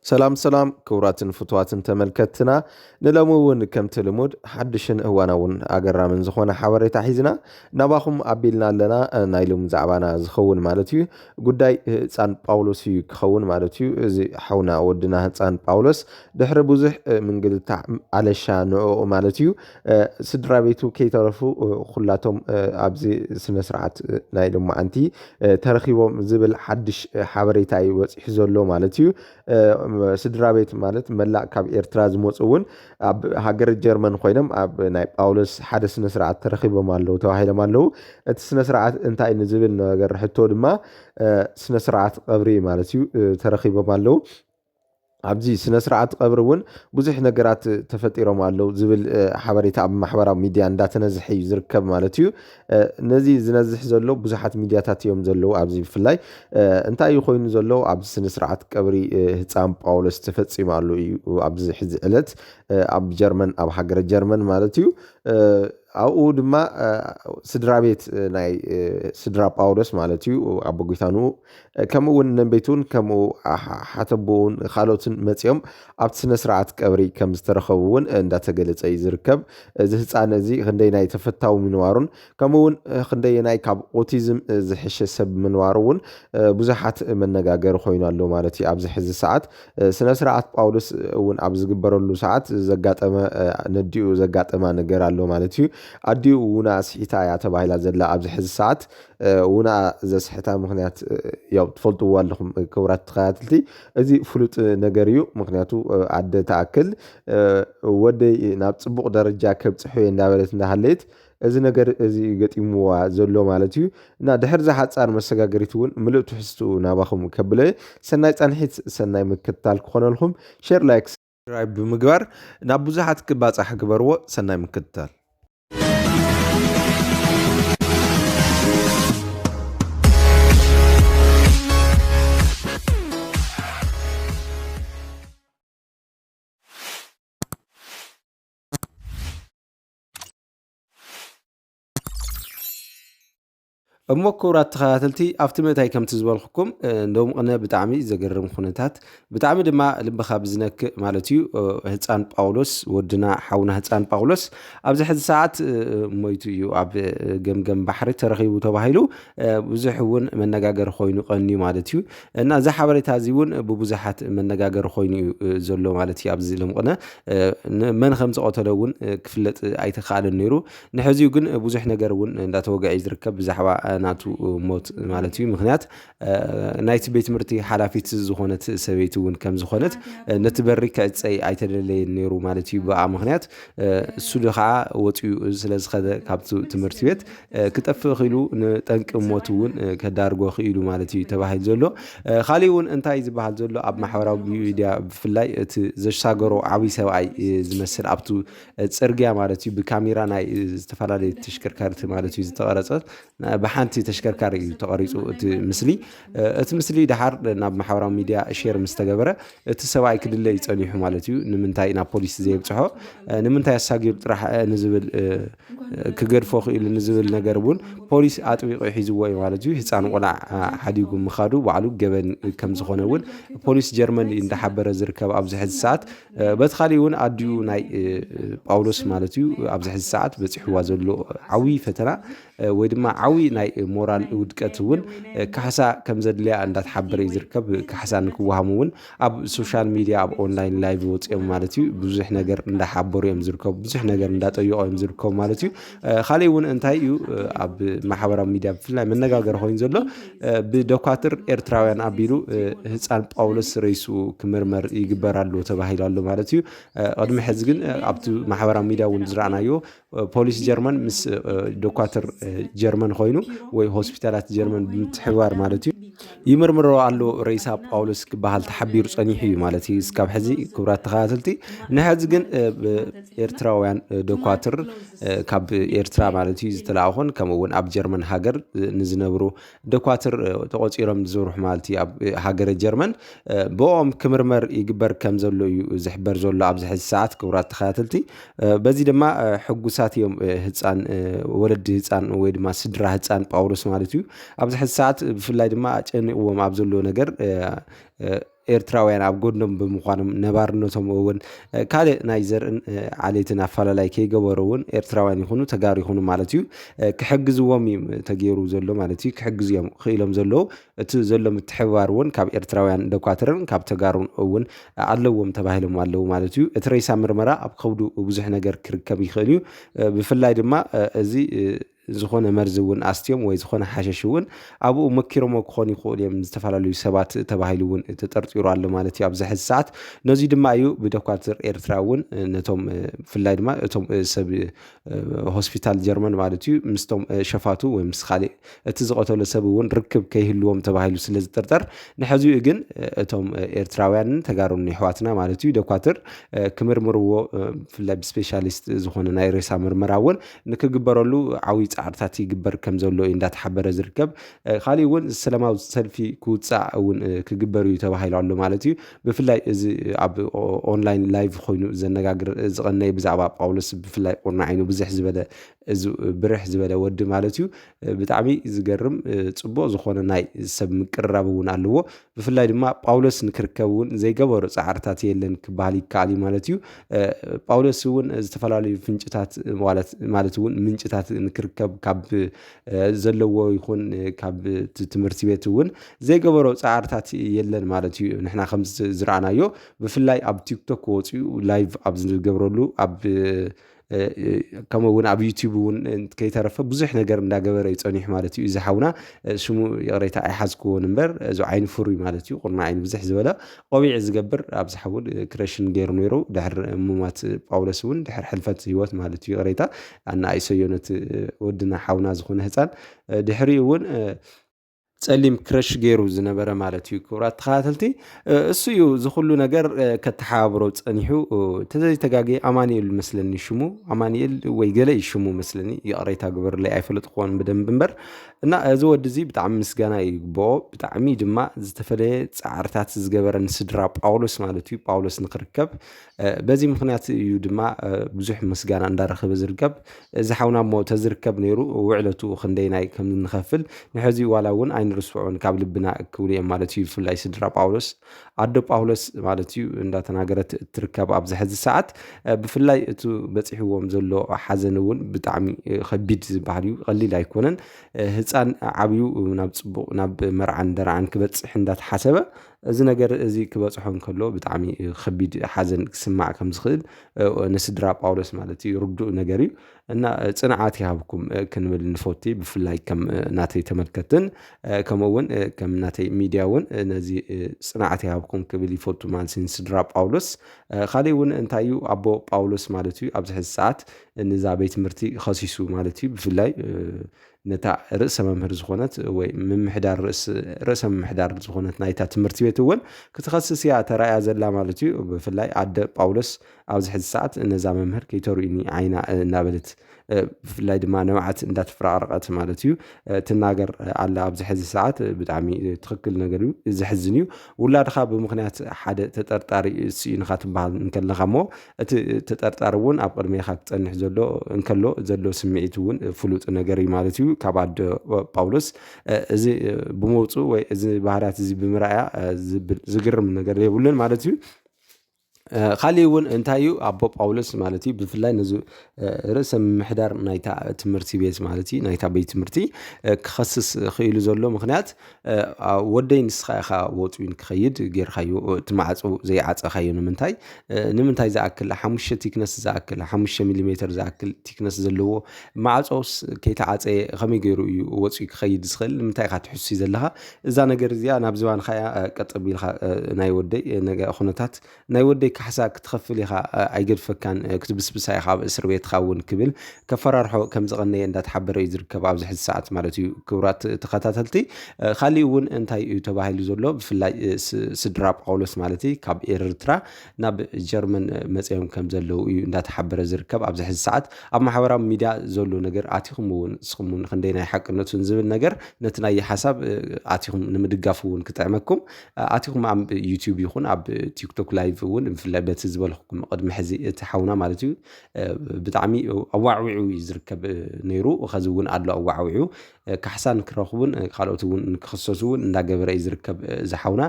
ሰላም ሰላም ክቡራትን ፍትዋትን ተመልከትና ንሎሚ እውን ከምቲ ልሙድ ሓድሽን እዋናውን ኣገራምን ዝኾነ ሓበሬታ ሒዝና ናባኹም ኣቢልና ኣለና ናይ ሎሚ ዛዕባና ዝኸውን ማለት እዩ ጉዳይ ህፃን ጳውሎስ እዩ ክኸውን ማለት እዩ እዚ ሓውና ወድና ህፃን ጳውሎስ ድሕሪ ብዙሕ ምንግልታዕ ኣለሻ ንኡ ማለት እዩ ስድራ ቤቱ ከይተረፉ ኩላቶም ኣብዚ ስነ ስርዓት ናይ ሎማዓንቲ ተረኺቦም ዝብል ሓድሽ ሓበሬታ እዩ ወፂሑ ዘሎ ማለት እዩ። ስድራ ቤት ማለት መላእ ካብ ኤርትራ ዝመፁ እውን ኣብ ሃገረ ጀርመን ኮይኖም ኣብ ናይ ጳውሎስ ሓደ ስነ ስርዓት ተረኺቦም ኣለዉ ተባሂሎም ኣለዉ እቲ ስነ ስርዓት እንታይ ንዝብል ነገር ሕቶ ድማ ስነ ስርዓት ቐብሪ ማለት እዩ ተረኺቦም ኣለዉ። ኣብዚ ስነስርዓት ቐብሪ እውን ብዙሕ ነገራት ተፈጢሮም ኣለው ዝብል ሓበሬታ ኣብ ማሕበራዊ ሚድያ እንዳተነዝሐ እዩ ዝርከብ ማለት እዩ። ነዚ ዝነዝሕ ዘሎ ብዙሓት ሚድያታት እዮም ዘለዉ ኣብዚ ብፍላይ እንታይ እዩ ኮይኑ ዘሎ ኣብዚ ስነስርዓት ቀብሪ ህፃን ጳውሎስ ተፈፂሙ ኣሎ እዩ ኣብዚ ሕዚ ዕለት ኣብ ጀርመን ኣብ ሃገረ ጀርመን ማለት እዩ። ኣብኡ ድማ ስድራ ቤት ናይ ስድራ ጳውሎስ ማለት እዩ ኣቦ ጒታንኡ ከምኡ እውን ነንበይቱን ከምኡ ሓተቦኡን ካልኦትን መፂኦም ኣብቲ ስነ ስርዓት ቀብሪ ከም ዝተረኸቡ እውን እንዳተገለፀ እዩ ዝርከብ። እዚ ህፃን እዚ ክንደየናይ ተፈታዊ ምንባሩን ከምኡ እውን ክንደየናይ ካብ ኦቲዝም ዝሕሸ ሰብ ምንባሩ እውን ብዙሓት መነጋገሪ ኮይኑ ኣሎ ማለት እዩ። ኣብዚ ሕዚ ሰዓት ስነ ስርዓት ጳውሎስ እውን ኣብ ዝግበረሉ ሰዓት ዘጋጠመ ነዲኡ ዘጋጠማ ነገር ኣሎ ማለት እዩ። ኣዲኡ እውን ኣስሒታ እያ ተባሂላ ዘላ ኣብዚ ሕዚ ሰዓት ውነኣ ዘስሕታ ምክንያት ያው ትፈልጥዎ ኣለኹም ክቡራት ተኸታተልቲ እዚ ፍሉጥ ነገር እዩ። ምክንያቱ ኣደ ትኣክል ወደይ ናብ ፅቡቕ ደረጃ ከብፅሖ እየ እንዳበለት እንዳሃለየት እዚ ነገር እዚ ገጢምዋ ዘሎ ማለት እዩ። እና ድሕሪ እዛ ሓፃር መሰጋገሪት እውን ምሉእ ትሕዝትኡ ናባኹም ከብለ እየ። ሰናይ ፃንሒት፣ ሰናይ ምክትታል ክኾነልኩም ሼር ላይክ ሳብስክራይብ ብምግባር ናብ ብዙሓት ክባፃሕ ግበርዎ ሰናይ ምክትታል እሞ ክብራት ተኸታተልቲ ኣብቲ ምእታይ ከምቲ ዝበልኩኩም ሎም ቅነ ብጣዕሚ ዘገርም ኩነታት ብጣዕሚ ድማ ልብኻ ብዝነክእ ማለት እዩ ህፃን ጳውሎስ ወድና ሓውና ህፃን ጳውሎስ ኣብዚ ሕዚ ሰዓት ሞይቱ እዩ ኣብ ገምገም ባሕሪ ተረኺቡ ተባሂሉ ብዙሕ እውን መነጋገሪ ኮይኑ ቀንዩ ማለት እዩ እና እዚ ሓበሬታ እዚ እውን ብብዙሓት መነጋገሪ ኮይኑ እዩ ዘሎ ማለት እዩ ኣብዚ ሎም ቅነ መን ከም ዝቐተለ እውን ክፍለጥ ኣይተካኣለን ነይሩ ንሕዚኡ ግን ብዙሕ ነገር እውን እንዳተወግዐ እዩ ዝርከብ ብዛዕባ ናቱ ሞት ማለት እዩ ምክንያት ናይቲ ቤት ትምህርቲ ሓላፊት ዝኾነት ሰበይቲ እውን ከም ዝኾነት ነቲ በሪ ክዕፀይ ኣይተደለየን ነይሩ ማለት እዩ ብኣ ምክንያት እሱ ከዓ ወፅኡ ስለ ዝኸደ ካብቲ ትምህርቲ ቤት ክጠፍእ ክኢሉ ንጠንቂ ሞት እውን ከዳርጎ ክኢሉ ማለት እዩ ተባሂሉ ዘሎ ካሊእ እውን እንታይ ዝበሃል ዘሎ ኣብ ማሕበራዊ ሚዲያ ብፍላይ እቲ ዘሻገሮ ዓብይ ሰብኣይ ዝመስል ኣብቲ ጽርግያ ማለት እዩ ብካሜራ ናይ ዝተፈላለዩ ተሽከርካሪቲ ማለት እዩ ዝተቐረጸ ብሓንቲ ተሽከርካሪ እዩ ተቐሪፁ እቲ ምስሊ እቲ ምስሊ ድሓር ናብ ማሕበራዊ ሚድያ ሼር ምስ ተገበረ እቲ ሰብኣይ ክድለ እዩ ጸኒሑ ማለት እዩ ንምንታይ ናብ ፖሊስ ዘየብፅሖ ንምንታይ ኣሳጊሩ ጥራሕ ንዝብል ክገድፎ ክኢሉ ንዝብል ነገር እውን ፖሊስ ኣጥቢቑ ሒዝዎ እዩ ማለት እዩ ህፃን ቆልዓ ሓዲጉ ምኻዱ ባዕሉ ገበን ከም ዝኾነ እውን ፖሊስ ጀርመን እንዳሓበረ ዝርከብ ኣብዚ ሕዚ ሰዓት በቲ ካሊእ እውን ኣዲኡ ናይ ጳውሎስ ማለት እዩ ኣብዚ ሕዚ ሰዓት በፂሕዋ ዘሎ ዓብዪ ፈተና ወይ ድማ ዓብዪ ናይ ሞራል ውድቀት እውን ካሕሳ ከም ዘድልያ እንዳተሓበረ እዩ ዝርከብ ካሕሳ ንክወሃሙ እውን ኣብ ሶሻል ሚድያ ኣብ ኦንላይን ላይቭ ወፂኦም ማለት እዩ ብዙሕ ነገር እንዳሓበሩ እዮም ዝርከቡ ብዙሕ ነገር እንዳጠየቆ እዮም ዝርከቡ ማለት እዩ ካሊእ እውን እንታይ እዩ ኣብ ማሕበራዊ ሚድያ ብፍላይ መነጋገሪ ኮይኑ ዘሎ ብዶካትር ኤርትራውያን ኣቢሉ ህፃን ጳውሎስ ረይሱ ክምርመር ይግበር ኣሎ ተባሂሉ ኣሎ ማለት እዩ ቅድሚ ሕዚ ግን ኣብቲ ማሕበራዊ ሚድያ እውን ዝረኣናዮ ፖሊስ ጀርመን ምስ ዶካትር ጀርመን ኮይኑ ወይ ሆስፒታላት ጀርመን ብምትሕባር ማለት እዩ ይምርምሮ ኣሎ ረይሳ ጳውሎስ ክበሃል ተሓቢሩ ፀኒሑ እዩ ማለት እዩ እስካብ ሕዚ ክብራት ተኸታተልቲ ንሕዚ ግን ኤርትራውያን ዶካትር ካብ ኤርትራ ማለት እዩ ዝተላእኹን ከምኡ እውን ኣብ ጀርመን ሃገር ንዝነብሩ ደኳትር ተቖፂሮም ዝዝርሑ ማለት እዩ ኣብ ሃገረ ጀርመን ብኦም ክምርመር ይግበር ከም ዘሎ እዩ ዝሕበር ዘሎ ኣብዚ ሕዚ ሰዓት ክቡራት ተኸታተልቲ በዚ ድማ ሕጉሳት እዮም ህፃን ወለዲ ህፃን ወይ ድማ ስድራ ህፃን ጳውሎስ ማለት እዩ ኣብዚ ሕዚ ሰዓት ብፍላይ ድማ ኣጨኒቕዎም ኣብ ዘሎ ነገር ኤርትራውያን ኣብ ጎድኖም ብምዃኖም ነባርነቶም እውን ካልእ ናይ ዘርእን ዓሌትን ኣፈላላይ ከይገበሩ እውን ኤርትራውያን ይኹኑ ተጋሩ ይኹኑ ማለት እዩ ክሕግዝዎም እዩ ተገይሩ ዘሎ ማለት እዩ ክሕግዙ እዮም ክኢሎም ዘለዉ እቲ ዘሎ ምትሕብባር እውን ካብ ኤርትራውያን ደኳትርን ካብ ተጋሩን እውን ኣለዎም ተባሂሎም ኣለዉ ማለት እዩ እቲ ሬሳ ምርመራ ኣብ ከብዱ ብዙሕ ነገር ክርከብ ይኽእል እዩ ብፍላይ ድማ እዚ ዝኾነ መርዚ እውን ኣስትዮም ወይ ዝኾነ ሓሸሽ እውን ኣብኡ መኪሮሞ ክኾኑ ይኽእሉ እዮም ዝተፈላለዩ ሰባት ተባሂሉ እውን ተጠርጢሩ ኣሎ ማለት እዩ ኣብዚ ሕዚ ሰዓት ነዚ ድማ እዩ ብዶኳትር ኤርትራ እውን ነቶም ብፍላይ ድማ እቶም ሰብ ሆስፒታል ጀርመን ማለት እዩ ምስቶም ሸፋቱ ወይ ምስ ካሊእ እቲ ዝቐተሎ ሰብ እውን ርክብ ከይህልዎም ተባሂሉ ስለ ዝጥርጠር ንሕዚኡ ግን እቶም ኤርትራውያንን ተጋሩን ይሕዋትና ማለት እዩ ዶኳትር ክምርምርዎ ብፍላይ ብስፔሻሊስት ዝኾነ ናይ ሬሳ ምርመራ እውን ንክግበረሉ ዓብይ ፃዕርታት ይግበር ከምዘሎ እዩ እንዳተሓበረ ዝርከብ ካሊእ እውን ሰላማዊ ሰልፊ ክውፃእ እውን ክግበር እዩ ተባሂሉ ኣሎ ማለት እዩ ብፍላይ እዚ ኣብ ኦንላይን ላይቭ ኮይኑ ዘነጋግር ዝቐነየ ብዛዕባ ጳውሎስ ብፍላይ ቁርናዕ ኢኑ ብዝሕ ዝበለ እዚ ብርሕ ዝበለ ወዲ ማለት እዩ ብጣዕሚ ዝገርም ፅቡቕ ዝኾነ ናይ ሰብ ምቅርራብ እውን ኣለዎ ብፍላይ ድማ ጳውሎስ ንክርከብ እውን ዘይገበሮ ፃዕርታት የለን ክበሃል ይከኣል እዩ ማለት እዩ ጳውሎስ እውን ዝተፈላለዩ ፍንጭታት ማለት እውን ምንጭታት ንክርከብ ካብ ዘለዎ ይኹን ካብ ትምህርቲ ቤት እውን ዘይገበሮ ፃዕርታት የለን ማለት እዩ ንሕና ከም ዝረኣናዮ ብፍላይ ኣብ ቲክቶክ ወፅኡ ላይቭ ኣብ ዝገብረሉ ኣብ ከምኡ እውን ኣብ ዩቲብ እውን ከይተረፈ ብዙሕ ነገር እንዳገበረ እዩ ፀኒሑ ማለት እዩ እዚ ሓውና ሽሙ ይቕሬታ ኣይሓዝክዎን እምበር እዚ ዓይኒ ፍሩይ ማለት እዩ ቁርና ዓይኒ ብዝሕ ዝበለ ቆቢዕ ዝገብር ኣብዚ ሓውን ክረሽን ገይሩ ነይሩ ድሕር ሙማት ጳውሎስ እውን ድሕር ሕልፈት ህይወት ማለት እዩ ይቕሬታ ኣነ ኣይሰዮ ነቲ ወድና ሓውና ዝኾነ ህፃን ድሕሪኡ እውን ጸሊም ክረሽ ገይሩ ዝነበረ ማለት እዩ። ክቡራት ተኸታተልቲ እሱ እዩ እዚ ኩሉ ነገር ከተሓባብሮ ጸኒሑ ተዘይተጋጊ ኣማኒኤል መስለኒ ሽሙ ኣማኒኤል ወይ ገለ እዩ ሽሙ መስለኒ ይቕሬታ ግበርለይ ኣይፈለጥ ክኾን ብደንብ እምበር እና እዚ ወዲ እዚ ብጣዕሚ ምስጋና ይግብኦ ብጣዕሚ ድማ ዝተፈለየ ጻዕርታት ዝገበረ ንስድራ ጳውሎስ ማለት እዩ ጳውሎስ ንክርከብ በዚ ምኽንያት እዩ ድማ ብዙሕ ምስጋና እንዳረኸበ ዝርከብ እዚ ሓውና እሞ ተዝርከብ ነይሩ ውዕለቱ ክንደይናይ ከም እንኸፍል ንሕዚ ዋላ እውን ኣይንርስዖን ካብ ልብና ክብሉ እዮም ማለት እዩ ብፍላይ ስድራ ጳውሎስ ኣዶ ጳውሎስ ማለት እዩ እንዳተናገረት እትርከብ ኣብዚ ሕዚ ሰዓት ብፍላይ እቲ በፂሕዎም ዘሎ ሓዘን እውን ብጣዕሚ ከቢድ ዝበሃል እዩ ቀሊል ኣይኮነን ህፃን ዓብዩ ናብ ፅቡቅ ናብ መርዓን ደርዓን ክበፅሕ እንዳተሓሰበ እዚ ነገር እዚ ክበጽሖ እንከሎ ብጣዕሚ ከቢድ ሓዘን ክስማዕ ከም ዝኽእል ንስድራ ጳውሎስ ማለት እዩ ርዱእ ነገር እዩ እና ጽንዓት ይሃብኩም ክንብል ንፈቲ ብፍላይ ከም ናተይ ተመልከትን ከምኡ እውን ከም ናተይ ሚድያ እውን ነዚ ጽንዓት ይሃብኩም ክብል ይፈቱ ማለት እዩ ንስድራ ጳውሎስ ካልእ እውን እንታይ እዩ ኣቦ ጳውሎስ ማለት እዩ ኣብዚ ሕዚ ሰዓት ንዛ ቤት ትምህርቲ ኸሲሱ ማለት እዩ ብፍላይ ነታ ርእሰ መምህር ዝኾነት ወይ ምምሕዳር ርእስ ርእሰ ምምሕዳር ዝኾነት ናይታ ትምህርቲ ቤት እውን ክትኸስስ እያ ተራእያ ዘላ ማለት እዩ። ብፍላይ ኣደ ጳውሎስ ኣብዚ ሕዚ ሰዓት ነዛ መምህር ከይተርእዩኒ ዓይና እናበለት ብፍላይ ድማ ንብዓት እንዳተፈራቕረቐት ማለት እዩ ትናገር ኣላ ኣብዚ ሕዚ ሰዓት ብጣዕሚ ትኽክል ነገር እዩ ዘሕዝን እዩ ውላድኻ ብምኽንያት ሓደ ተጠርጣሪ ስኢንኻ ትበሃል እንከለኻ እሞ እቲ ተጠርጣሪ እውን ኣብ ቅድሜኻ ክጸንሕ ዘሎ እንከሎ ዘሎ ስምዒት እውን ፍሉጥ ነገር እዩ ማለት እዩ ካብ ኣደ ጳውሎስ እዚ ብምውፅኡ ወይ እዚ ባህርያት እዚ ብምርኣያ ዝግርም ነገር የብሉን ማለት እዩ ካሊእ እውን እንታይ እዩ ኣቦ ጳውሎስ ማለት እዩ ብፍላይ ነዚ ርእሰ ምምሕዳር ናይታ ትምህርቲ ቤት ማለት እዩ ናይታ ቤት ትምህርቲ ክኸስስ ክኢሉ ዘሎ ምክንያት ወደይ ንስኻ ኢኻ ወጽዩን ክኸይድ ጌርካዮ እቲ ማዕጾ ዘይዓጸኻዮ ንምንታይ ንምንታይ ዝኣክል ሓሙሽተ ቲክነስ ዝኣክል ሓሙሽተ ሚሊ ሜትር ዝኣክል ቲክነስ ዘለዎ ማዕጾስ ከይተዓጸየ ከመይ ገይሩ እዩ ወጽዩ ክኸይድ ዝኽእል ንምንታይ ኢኻ ትሕሱ ዘለኻ እዛ ነገር እዚኣ ናብ ዝባንኻ እያ ቀጥ ቢልካ ናይ ወደይ ኩነታት ናይ ወደይ ካሕሳ ክትኸፍል ኢኻ ኣይገድፈካን ክትብስብሳ ኢኻ ኣብ እስርቤትኻ እውን ክብል ከፈራርሖ ከም ዝቐነየ እንዳተሓበረ እዩ ዝርከብ ኣብዚ ሕዚ ሰዓት ማለት እዩ ክብራት ተኸታተልቲ ካሊእ እውን እንታይ እዩ ተባሂሉ ዘሎ ብፍላይ ስድራ ጳውሎስ ማለት እዩ ካብ ኤርትራ ናብ ጀርመን መፅኦም ከም ዘለዉ እዩ እንዳተሓበረ ዝርከብ ኣብዚ ሕዚ ሰዓት ኣብ ማሕበራዊ ሚድያ ዘሎ ነገር ኣቲኹም እውን ንስኹም እውን ክንደይ ናይ ሓቅነቱን ዝብል ነገር ነቲ ናይ ሓሳብ ኣቲኹም ንምድጋፍ እውን ክጥዕመኩም ኣቲኹም ኣብ ዩቲዩብ ይኹን ኣብ ቲክቶክ ላይቭ እውን ብፍላይ በቲ ዝበልኩኩም ቅድሚ ሕዚ እቲ ሓውና ማለት እዩ ብጣዕሚ ኣዋዕዊዑ እዩ ዝርከብ ነይሩ ከዚ እውን ኣሎ ኣዋዕዊዑ ካሕሳ ንክረኽቡን ካልኦት እውን ንክክሰሱ እውን እንዳገበረ እዩ ዝርከብ ዝሓውና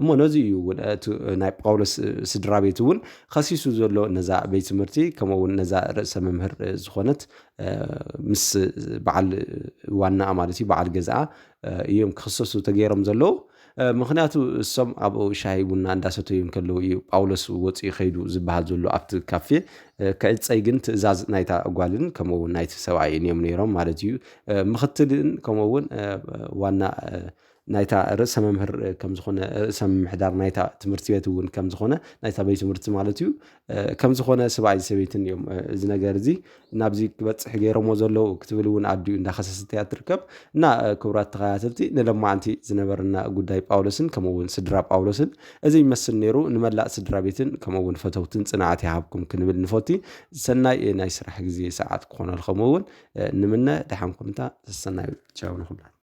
እሞ ነዚ እዩ እውን እቲ ናይ ጳውሎስ ስድራ ቤት እውን ከሲሱ ዘሎ ነዛ ቤት ትምህርቲ ከምኡ እውን ነዛ ርእሰ መምህር ዝኾነት ምስ በዓል ዋናኣ ማለት እዩ በዓል ገዛኣ እዮም ክኽሰሱ ተገይሮም ዘለዉ ምክንያቱ እሶም ኣብኡ ሻሂ ቡና እንዳሰተዩ ከለዉ እዩ ጳውሎስ ወፂኡ ከይዱ ዝበሃል ዘሎ ኣብቲ ካፌ ክዕፀይ ግን ትእዛዝ ናይታ ጓልን ከምኡ ውን ናይቲ ሰብኣይን እዮም ነይሮም ማለት እዩ ምክትልን ከምኡ ውን ዋና ናይታ ርእሰ መምህር ከም ዝኾነ ርእሰ ምምሕዳር ናይታ ትምህርቲ ቤት እውን ከም ዝኾነ ናይታ ቤት ትምህርቲ ማለት እዩ ከም ዝኾነ ስብኣይን ሰበይትን እዮም እዚ ነገር እዚ ናብዚ ክበፅሕ ገይሮሞ ዘለዉ ክትብል እውን ኣዲኡ እንዳኸሰሰት እያ ትርከብ እና ክብራት ተኸታተልቲ ንለማዓንቲ ዝነበረና ጉዳይ ጳውሎስን ከምኡ እውን ስድራ ጳውሎስን እዚ ይመስል ነይሩ ንመላእ ስድራ ቤትን ከምኡ እውን ፈተውትን ፅንዓት ይሃብኩም ክንብል ንፈቲ ሰናይ ናይ ስራሕ ግዜ ሰዓት ክኾነልኩም እውን ንምነ ደሓን ኩንታ ሰናይ ቻው ንኹላ